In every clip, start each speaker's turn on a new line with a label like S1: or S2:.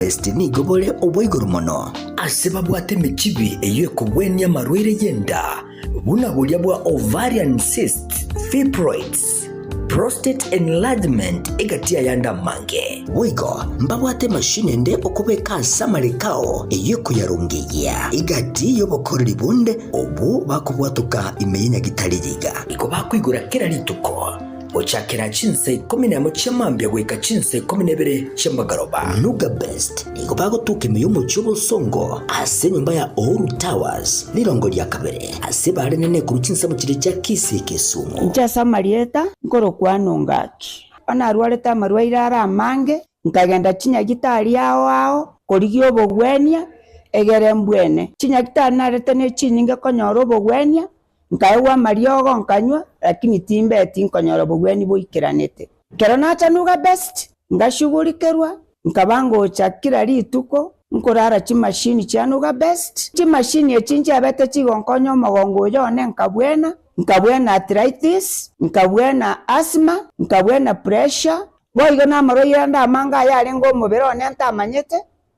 S1: Kristi nigo bore obwa igoro mono, ase babwate emechibi eyio ekogwenia amarwaire y'enda, buna boria bwa ovarian cysts, fibroids, prostate enlargement, egati ayande amange. Boigo mbabwate emashini ende okobeka ase amariko ao eyio ekoyarongeyia, egati y'obokoreri bonde obwo bakobwatoka ime y'enyagitari riga. Nigo bakoigora kera rituko. Gochakera chinsa ikomi nemo chia mambia goika chinsa ikomi nebere chia magaroba, Lugabest nigo bagotoka ime y'omochie obosongo ase enyomba ya Uhuru Towers, rirongo ria kabere ase ebare enene korwa chinsemo chiria chia Kisii Kisumu. Inche ase amarieta
S2: nkorokwa Anongaki, onarwarete amarwaire are amange, nkagenda chinyagitari ao ao korigia obogwenia, egere mbwene. Chinyagitari narete nechinyinge konyora obogwenia, Nkaegwa amariogo, nkanywa, lakini timbeti nkonyora obogwenia boikeranete. Ekero nachanuga best, ngashugurikerwa, nkaba ngocha kira rituko nkorara chimashini chia nuga best. Chimashini echi nchiabete chigonkonya omogongo oyo one nkabwena, nkabwena arthritis, nkabwena asthma, nkabwena pressure, boigo namarwaire ande amange ayarenge omobere one ntamanyete,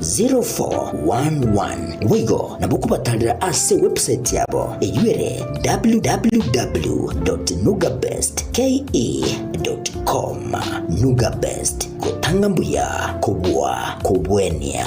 S1: 0411 boigo nabo okobatanera ase website yabo eyio ere www.nugabestke.com nugabest gotanga mbuya kobua kobuenia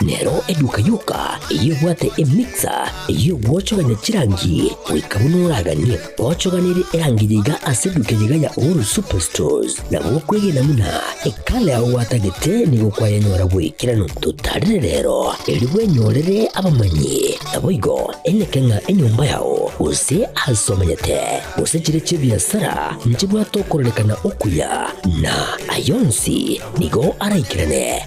S1: Nero eduka yoka eyebwate emixer ey'ogwochogania chirangi, goika buna oraganie gochoganera erangi yaiga ase eduka eyaiga ya Uhuru Superstores. Nabo okwegena buna ekala yao gwatagete nigo kwayenyora bw'ekerano. Totarire rero, erio bwenyorere abamanyi, naboigo eneke ng'a enyomba yao, gose aase omanyete, gose chire chi'ebiasara nchibwate okororekana okuya, na ayio onsi nigo araikerane.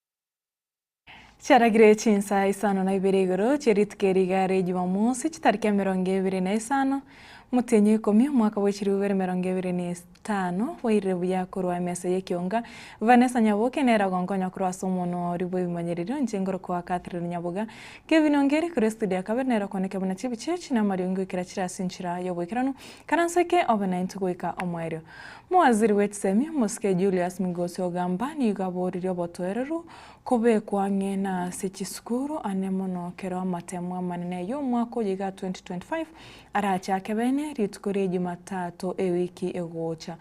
S3: Chiaragire chinsa isano na ibere igoro chie rituko erio igare ya Jumamosi, chitariki emerongo ebere na isano, motienyi o ikomi, omwaka bwa echiruubere emerongo ebere na etano, bairire buya korwa emesa y'ekeunga. Vanessa Nyaboke nere ogonkonya korwa ase omonwa oria bw'ebimanyererio, inche ngorokoa Catherine Nyaboga. Kevin Ongeri korwa estudio ya kabere nere okwanete buna chibiche echi na amariongo ekera chire ase enchera y'oboikeranu, karansa eke obe naintwe goika omoerio. Mowaziri bwe chisemi omosike Julius Migosi Ogamba nigo aboririe obotoereru kobekwa ang'e na ase chisukuru ane mono kero amatemo amanene y'omwaka oyo iga 2025 arachake bene rituko rie Jumatato ewiki egocha.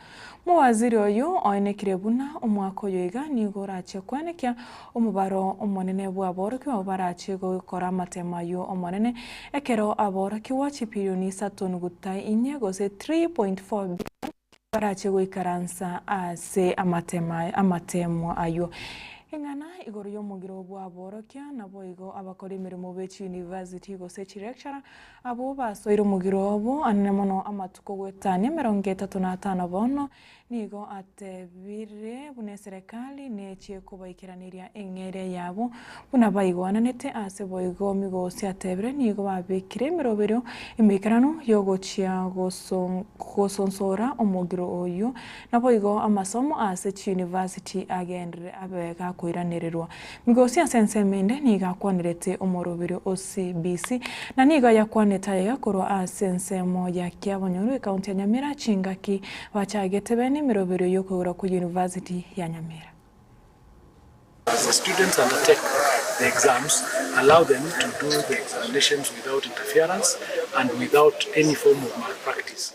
S3: Mowaziri oyio oenekire buna omwaka oyo iga nigo orache koenekia Omobaro omonene bw'aborokigwa abwo barachie gokora amateema ayio Omonene, ekero aborokigwa chipilioni isato nuguta inye, gose 3.4 billion, barachie goikaransa ase amateema amateemwa ayio. Ing'ana igoro y'omogiro bw'aborokia, naboigo abakori emeremo be chiyunivasiti gose chilecturer abwo basoire omogiro obo, anene mono amatuko goetania emerongo etato na atano bono, Nigo atebire buna eserekari nechie kobaikeraneria eng'eria yabo buna baigwananete, ase boigo Migosi atebire nigo babekire emeroberio emeikeranu y'ogochia gosonsora omogiro oyio. Naboigo amasomo ase chiyunivasiti agenderere abe gakoiranererwa Migosi ase ensemo ende nigo akwanerete omorobiri o CBC, na nigo ayakwanete aiga korwa ase ensemo ya Kiabonyoru, ekaunti ya Nyamira, chingaki bachagete bene emeroberio y'okoigora kwe University ya Nyamira.
S4: As the students undertake the exams, allow them to do the examinations without interference and without any form of malpractice.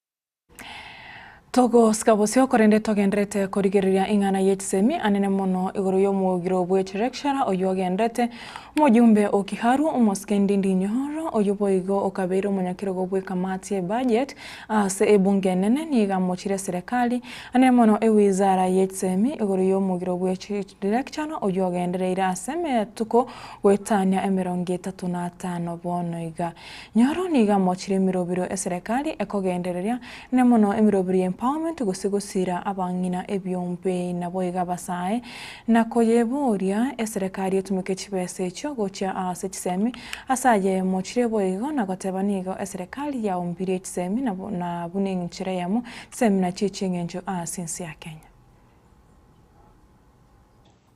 S3: Togosika bosio, korende togenderete korigereria ing'ana y'echisemi, anene mono igoro y'omogiro bwe Chirekshara, oyio agenderete omojumbe o Kiharu, omosike Ndindi Nyoro, oyio boigo okabeire omonyakerogo bw'ekamati y'ebajet ase ebunge enene, nigo amochire serekari, anene mono ewizara y'echisemi, igoro y'omogiro bwe Chirekshara, oyio agendereire ase emetuko goetania emerongo etato na atano bono iga. Nyoro niga mochire emirobiro eserekari ekogendereria, ne mono emirobiro ya empowerment gose gosiira abang'ina ebiombe. Naboiga abasae na koyeboria eserekari etumeke chibesa echio gochia aase chisemi ase aye mochire boigo na goteba nigo eserekari yaumbirie chisemi na buna eng'inchera eyemo chisemi nachio eching'encho aase ense ya Kenya.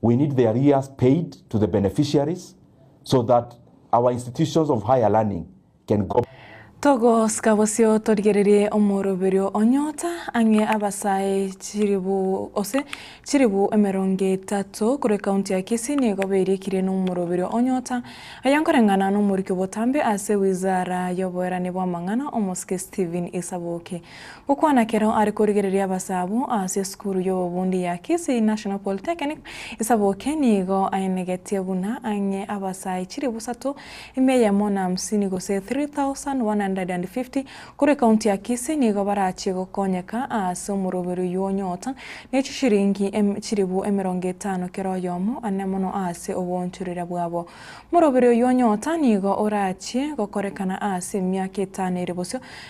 S5: We need the arrears paid to the beneficiaries so that our institutions of higher learning can go Togosika
S3: bosio torigererie omoroberio onyota ang'e abasae chilibu ose chilibu emerongo etato korwa ekaunti ya Kisii nigo berikirie nomoroberio onyota oye nkoreng'ana nomoriki obotambe ase wizara yoboerani bwamang'ana omosike Stephen Isaboke Gokwana kero are korigereria abasabu ase esukuru y'obobundi ya Kisii National Polytechnic, Isaboke nigo aenegetie buna ang'e abasae chilifu isato, emia eyemo na hamsini gose 3,150, korwa ekaunti ya Kisii nigo barachie gokonyeka ase omoroberi oyio onyota ne chishilingi chilifu emerongo etano kera oyomo, ane mono ase oboonchorera bwabo. Omoroberi oyio onyota nigo orachie gokorekana ase emiaka etano ere bosio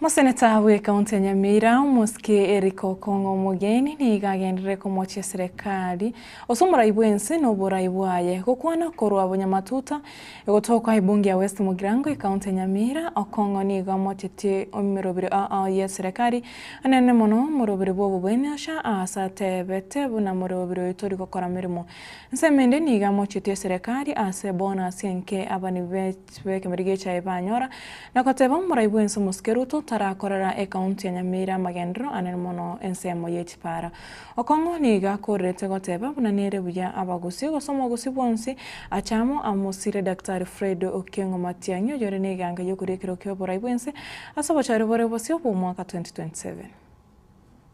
S6: Moseneta
S3: bw'Ekaunti ya Nyamira, Omosike Eric Okong'o Omogeni nigo agenderere komochia Serekari ase omorai bw'ense na oborai bwaye, gokwana korwa bonyamatuta, egotokwa Ebunge ya West Mugirango, Ekaunti ya Nyamira. Okong'o nigo amochetie omerobiri aa ye Serekari anene mono, omorobiri bw'obobwene ocha aase atebete buna morobiri oyo tori gokora meremo. Nsemende nigo amochetie Serekari ase bonus enke abanibwi be Chibwao ekeberio gechaye banyora, na goteba, Omorai bw'ense omosuke Ruto tarakorera ekaunti ya Nyamira amagenderero anene mono ensemo y'echipaara. Okong'u nigo akoorerete goteba buna nere buya abagusii gose omogusii bwonsi ache amo amosiire Daktari Fred Okengo Matiang'i oyore n'eganga y'okoria ekero ki'oborai bw'ense ase obochore bore bosio bw'omwaka 2027.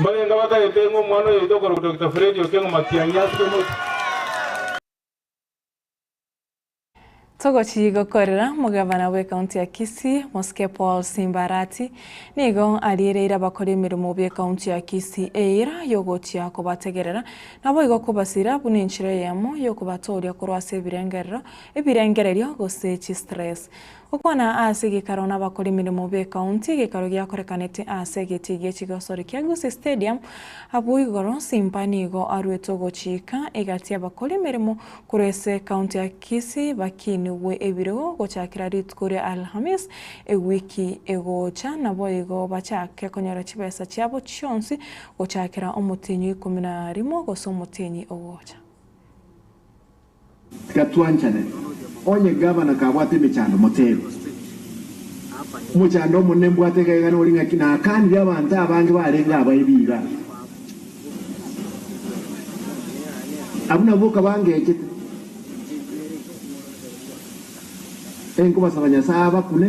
S7: Mbarenge batagete ng'a omwana
S3: oyoito okorokwa Dokita Fredy Okengo Matiang'i asike mochie. Togochii gokorera Mogavana bw'Ekaunti ya Kisii, Mosike Paul Simba Arati, nigo ariereire abakori emeremo b'Ekaunti ya Kisii eira y'ogochia kobategerera naboigo kobasira buna enchera eyemo y'okobatooria korwa ase ebirengerero, ebirengererio gose chistress. Gokwana ase gekaro nabakora emeremo be county gekaro giakorekanete ase egetii gie chigosori kia Gusii Stadium abwo igoro Simba nigo aruete ogochiika egati y'abakora emeremo korwa ase county ya Kisii bakinigwe ebirogo gochakera rituko ria Alhamisi ewiki egocha naboigo bachake konyora chibesa chiabo chionsi gochakera omotienyi oikomi na rimo gose omotienyi ogocha.
S8: Tiga twanchane. Onye gavana kabwate emechando, moteebe, Omochando omonene mbwate egaigana ori ng'aki nakanire abanto abange barenge aba ebiira. Abwo nabwo okabangechete. Enkobasaba Nyasae abakune.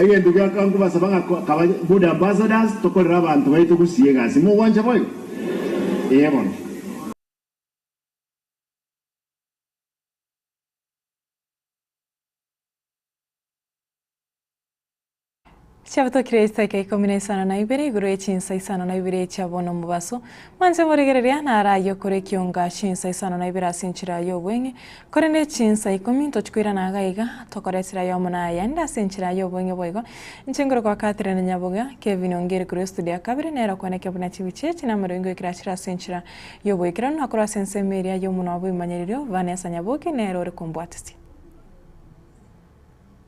S8: Egento giakaba nkobasaba ng'a kaba good ambassadors tokorere abanto baito gusii egasi. Mogwancha boigo? Ee bono.
S3: Chiabotokire eiseke ikomi na isano na ibere igoro ye chinsa isano na ibere chia bono omobaso, mwanche omoregereria naro ayie okore ekionga chinsa isano na ibere ase enchera y'obweng'e, korende chinsa ikomi ntochi koirana iga iga, tokore esira yomo na ayande ase enchera y'obweng'e boigo. Inche ngoro kwa Catherine Nyabogia, Kevin Ongiri korwa estudio ya kabere, nere okwaneka buna chibiche echi na amaroingo ekirachire ase enchera y'oboikeranu na korwa ase ensemo eria y'omonwa bw'ebimanyererio, Vanessa Nyabogi nere ore kombwatesia.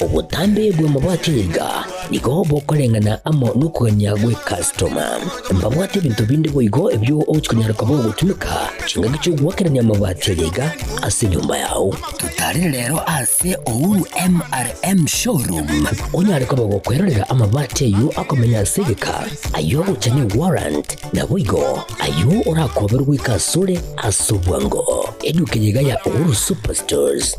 S1: Obotambe bw'amabwato niga nigo bokoreng'ana amo nokogania gw'ekastoma. Mbabwate ebinto binde boigo ebio ogochia konyara koba ogotumeka chingaki chi'ogoakerania amabati aria iga ase enyomba yao. Totarire rero ase Uhuru MRM Showroom onyare koba gokwerorera amabati ayio akomenya ase egeka, ayio agocha ne warrant, naboigo ayio orakoberwe goika asore ase obwango. Eduka eye iga ya Uhuru Superstores.